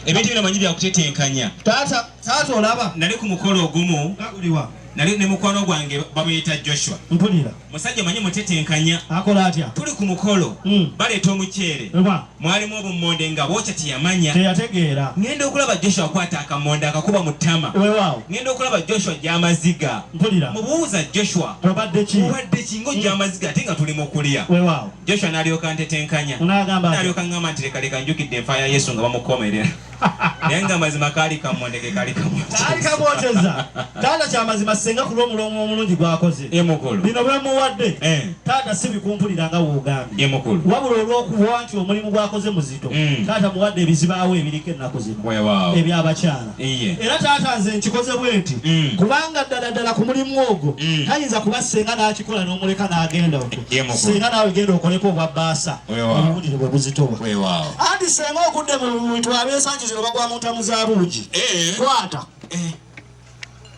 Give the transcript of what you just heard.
ebintu bino manyi byakutetenkanya taata taata olaba nali ku mukolo ogumu gaguliwa nali ne mukwano gwange bamuyita joshua mpulira musajja manyi mutetenkanya akola atya tuli ku mukolo mm. baleeta omuceere mwalimu obummonde nga bwokya teyamanya teyategeera ngenda okulaba joshua akwata akammonde akakuba mu ttama wewaawo ngenda okulaba joshua gyamaziga mpulira mubuuza joshua obadde ki obadde ki ngaojja mm. amaziga ate nga tuli mu kulya wewaawo Joshua n'alyoka antetenkanya. N'agamba nti. N'alyoka aŋŋamba nti, Leka, leka, njukidde enfa ya Yesu nga bamukomerera. Naye nga mazima kaali kamwondege, kaali kamwokyeza. Kaali kamwokyeza. Taata, kya mazima ssenga ku lw'omuloongo omulungi gw'akoze. Ye mukulu. Bino bwe mmuwadde. Eh. Taata, si bikumpulira nga w'ogambye. Ye mukulu. Wabula olw'okuba nti omulimu gw'akoze muzito, taata, muwadde ebizibaawo ebiriko ennaku zino. Weewaawo. Eby'abakyala. Iye. era taata nze nkikoze bwenti Mm. kubanga ddala ddala ku mulimu ogwo Mm. tayinza kuba senga n'akikola n'omuleka n'agenda okwo Ye mukulu. senga naawe genda okoleko obwa baasa Weewaawo. obuwulire bwe buzitowa Weewaawo. anti senga okudde mu bintu ab'ensangi zino bagwa mu ntamu za buugi Eh. kwata Eh.